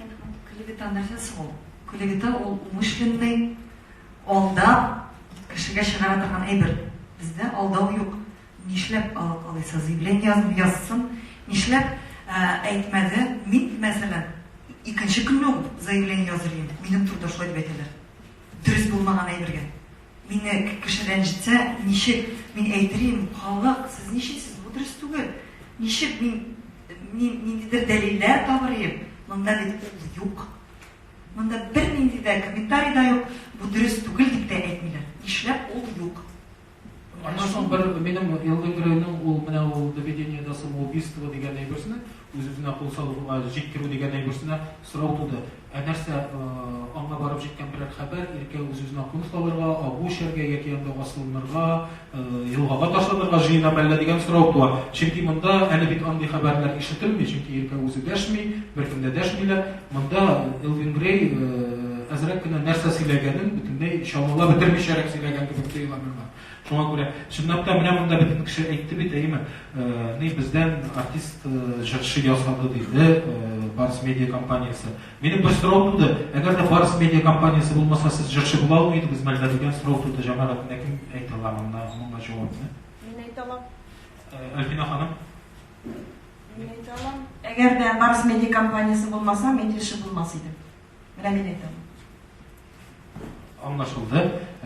Әнә мондый клевета нәрсә соң ул? Клевета ул умышленный, алдап, кешегә чыгара торган әйбер. Бездә алдау юк. Нишләп алып калыйсы? Заявление язмый, язсын. Нишләп әйтмәде? Мин, мәсәлән, икенче көнне үк заявление языр идем, минем турыда шулай дип әйтәләр. Дөрес булмаган әйбергә. Мине кеше рәнҗетсә, ничек мин әйтерим, халык, сез ничисез, бу дөрес түгел. Ничек мин, мин ниндидер дәлилләр табырыйм, монда бит ул юк. Монда бернинди дә комментарий да юк, бу дөрес түгел дип тә әйтмиләр. Нишләп ул юк? Аннан соң бер минем елгы геройның ул менә ул доведениедә самоубийство дигән әйберсенә Үз-үзенә кул салуга җиткерү дигән әйберсенә сорау туды. Ә нәрсә, аңа барып җиткән берәр хәбәр, Иркә үз-үзенә кул салырга, агу эчәргә яки анда асылынырга, елгага ташланырга җыенамы әллә дигән сорау туа. Чөнки монда әле бит андый хәбәрләр ишетелми, чөнки Иркә үзе дәшми, беркем дә дәшмиләр. Монда Элвин Грей әзрәк кенә нәрсә сөйләгәнен бөтенләй чамалап бетермичәрәк сөйләгән кебек тоела миңа. Шуңа күрә, чынлап та, менә монда бөтен кеше әйтте бит, әйеме, ни бездән артист җырчы ясады диде Барс медиа компаниясе. Минем бер сорау туды, әгәр дә Барс медиа компаниясе булмаса, сез җырчы була алмый идегез мәллә дигән сорау туды җәмәгать. Менә кем әйтә ала монда моңа җавапны? Мин әйтә алам. Альбина ханым. Мин әйтә алам. Әгәр дә Барс медиа компаниясе булмаса, мин җырчы булмас идем. Менә мин әйтә алам. Аңлашылды.